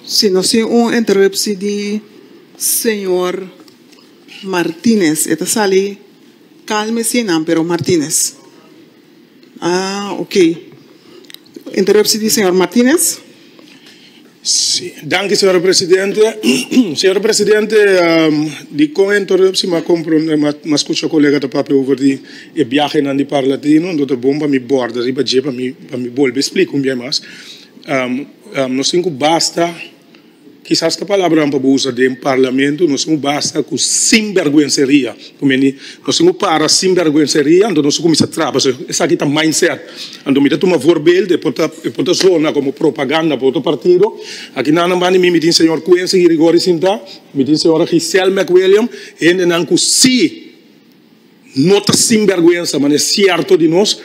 Si no sin un interupsi di señor Martinez. E ta sali kalme asina pero Martinez ok interupsi di señor Martinez. Danki señor presidente señor presidente dikon e interupsi m'a kompronde m'a skucha kolega ta papia over di e biahenan di parlatino enton ta bon pa mi borda riba dje pa mi bolbe splika un biahe mas. Nos tin ku basta, kisas ta palabranan pa bo usa den Parlamento, nos tin ku basta ku sinbèrgwenseria. Ku mende, nos tin ku para sinbèrgwenseria, anto nos tin ku kuminsá traba. So esaki ta mindset. Anto mi ta tuma voorbeeld, e por ta, e por ta sona komo propaganda pa otro partido. Aki nan nan banda di mi, mi tin señor Quincy Gregorio sintá, mi tin señora Giselle McWilliam, hendenan ku sí. No ta sinbergwensa man e sierto di nos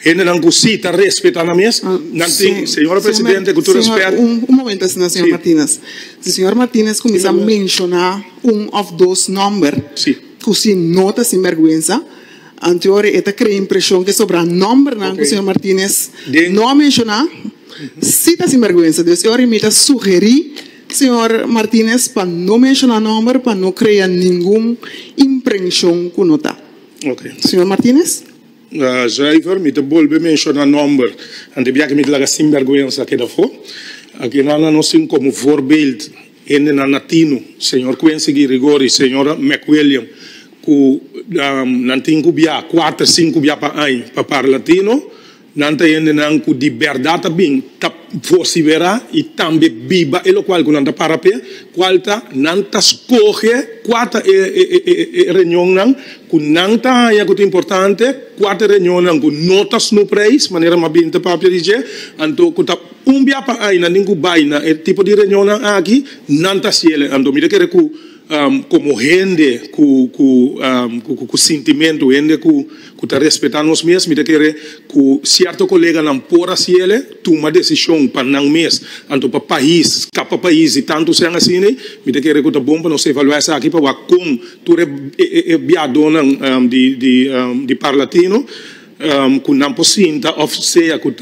hendenan cu si ta respeta nan mes nan tin señora presidente cu tur respet. Un momento asina señor Martinez, si señor Martinez cuminsa menciona un of dos nomber cu si no ta sinbergwensa anteor e ta crea impresion cu sobra nombernan cu señor Martinez no a menciona si ta sinbergwensa, dus e ora mi ta sugeri. Señor Martinez pa no menciona nomber pa no crea ningun imprencion cu no ta. Oke. Señor Martinez. Schrijver, mi ta bolbe menciona nomber anto biaha cu mi ta laga sinberguenza keda afo. Akinan a nos tin como voorbeeld hendenan atino, señor Quincy Guirigori, señora McWilliam, cu nan tin cu biaha cuater, cinco biaha pa aña pa parla atino. Nan ta hendenan ku di bèrdat a bin, ta pòsiberá i tambe biba e lokual ku nan ta para p'e, kual ta, nan ta skohe kua ta e reunionnan ku nan ta haña ku ta importante, kua ta e reunionnan ku no ta snu preis, manera mas bien ta papia di dje. Anto ku ta un bia pa aña nan tin ku bai na e tipo di reunionnan aki, nan ta hasiel e. Anto mi ta kere ku. komo hende ku ku ku sintimentu, hende ku ku ta respetá nos mes, mi ta kere ku sierto koleganan por hasi el'e tuma desishon pa nan mes, anto pa pais, skapa pais i tantu sen asina. Mi ta kere ku ta bon pa nos evaluá esaki pa wak kon tur e biadonan di di di Parlatino, ku nan por sinta òf sea ku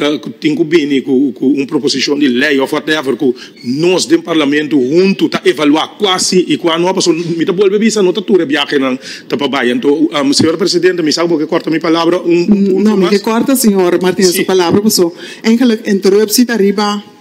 tin ku bini ku un proposishon di lei òf whatever ku nos den Parlamento huntu ta evaluá kua si i kua no. Pasobra mi ta bolbe bisa no ta tur e biahenan ta pa bai. Anto, señora presidente, mi sa ku bo ke kòrta mi palabra un punto mas. No, mi ke kòrta señor Martinez su palabra pasobra eingelik interuptie ta riba.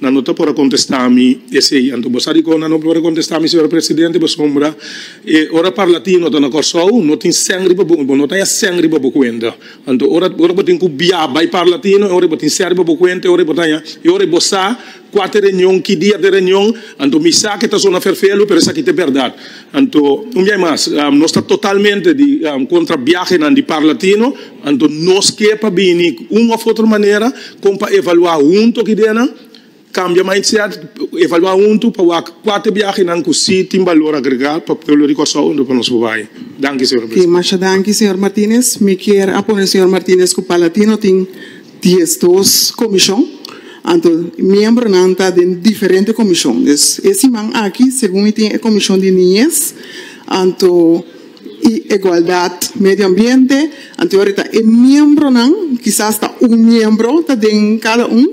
Nan no ta por a contesta mi esey. Anto bo sa dicon nan no por a contesta mi señor presidente pasobra e ora parlatino ta na Corsou no tin seng riba bo bo no ta ya seng riba bo cuenta. Anto ora ora bo tin cu bia bay parlatino e ora bo tin seng riba bo cuenta e ora bo ta ya e ora bo sa cua ta reunion ki dia ta reunion anto mi sa ke ta sona ferfelu pero esaki ta berdad. Anto, un biahe mas, nos ta totalmente di kontra biahenan di Parla Tino. Anto, nos ke pa bini ku un òf otro manera kon pa evaluá huntu ki ideanan, kambia mindset, evaluá huntu pa wak kua ta e biahenan ku si tin balor agregá pa pueblo di Kòrsou unda ku nos por bai. Danki, señor Presidente. Masha danki, señor Martinez. Mi kier a pone señor Martinez ku Parla Tino tin. Diesdos komishon, anto miembronan ta den diferente komishon. Dus e siman aki segun mi tin e komishon di niñes anto i egualdat medio ambiente, anto i awrita e miembronan, kisas ta un miembro ta den kada un,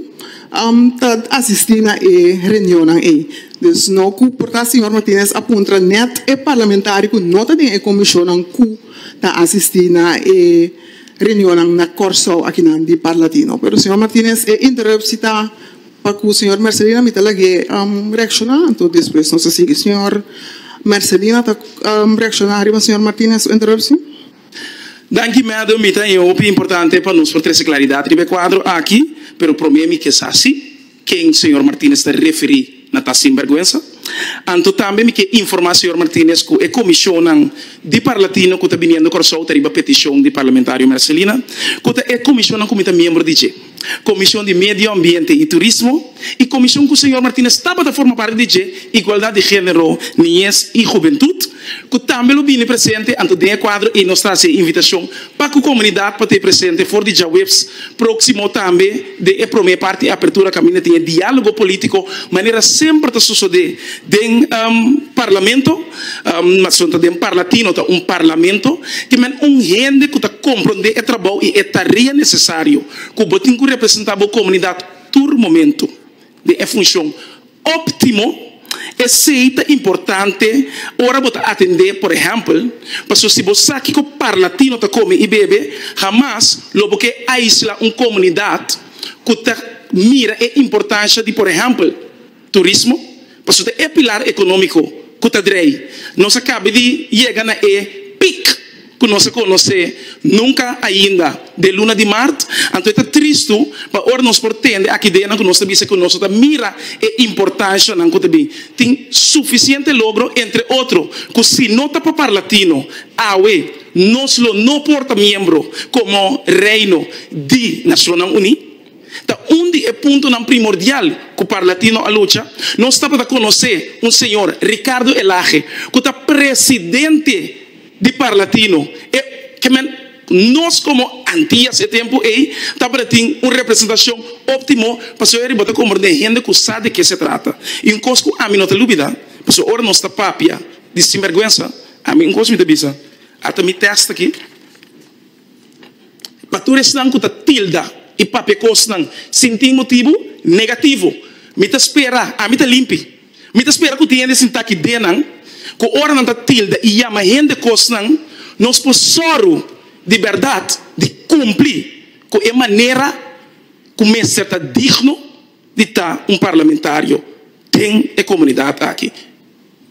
ta asistí na e reunionnan ei. Dus no ku por ta señor Martinez a puntra nèt e parlamentario ku no ta den e komishonnan ku ta asistí na e. reunionnan na Kòrsou akinan di Parlatino. Pero señor Martinez e interruptie ta pa ku señor Mercelina mi ta lag'é reakshoná. Anto despues nos a sigui señor Mercelina ta reakshoná riba señor Martinez su interruptie. Danki Mado, mi ta e hopi importante pa nos por trese klaridat riba e kuadro aki, pero promé mi ke sa si. ken señor Martinez ta referi na ta sinberguensa. Anto tambe mi ke informa señor Martinez ku e komishonnan di Parlatino ku ta biniendo Kòrsou ta riba petishon di Parlamentario Mercelina, ku ta e komishonnan ku mi ta miembro di dje, Komishon di Medio Ambiente i Turismo i komishon ku señor Martinez tabata forma parti di dje, Igualdad di Género, Niñez i Hubentut. ku tambe lo bini presente anto den e kuadro ei nos ta hasi e invitashon pa ku komunidat pa ta e presente for di djaweps próksimo tambe den e promé parti apertura kaminda tin e diálogo polítiko manera semper ta sosodé den parlamento mas lo ta den parlatino ta un parlamento ke men un hende ku ta komprondé e trabou i e tarea nesesario ku bo tin ku representá bo komunidat tur momentu. den e funshon óptimo. Esei ta importante ora bo ta atendé, por ehèmpel, pasobra si bo sa kiko par latino ta kome i bebe, hamas lo bo ke aisla un komunidat ku ta mira e importansha di, por ehèmpel, turismo, pasobra ta e pilar ekonómiko ku ta drei. Nos a kabe di yega na e pik. ku nos a konosé nunka ainda den luna di mart, anto e ta tristu pa ora nos por tende aki ideanan ku nos ta bisa ku nos no ta mira e importanshanan ku ta bin tin sufisiente logro, entre otro ku si no ta pa parlatino awe nos lo no por ta miembro komo Reino di Nashonnan Uní. Ta un di e puntonan primordial ku parlatino a lucha. Nos tabata konosé un señor Ricardo Elage ku ta presidente. Di parlatino e ke men nos komo Antias e tempu ei tabata tin un representashon óptimo pasobra riba ta komber den hende ku sa di ke se trata. I un kos ku ami no ta lubidá pasobra ora nos ta papia di sinbèrgwensa, ami un kos mi ta bisa, ata mi tèst aki, Pa tur esnan ku ta tilda i papia kosnan sin tin motibu negativo, mi ta spera, ami ta limpi. Mi ta spera ku tin hende sin taki denan ku ora nan ta tilda i yama hende kosnan, nos por sòru di bèrdat di kumpli ku e manera ku mester ta digno di ta un parlamentario den e komunidat aki.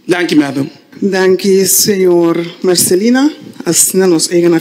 Danki, Madam. Danki, Señor Marcelina. Asina nos eiga na.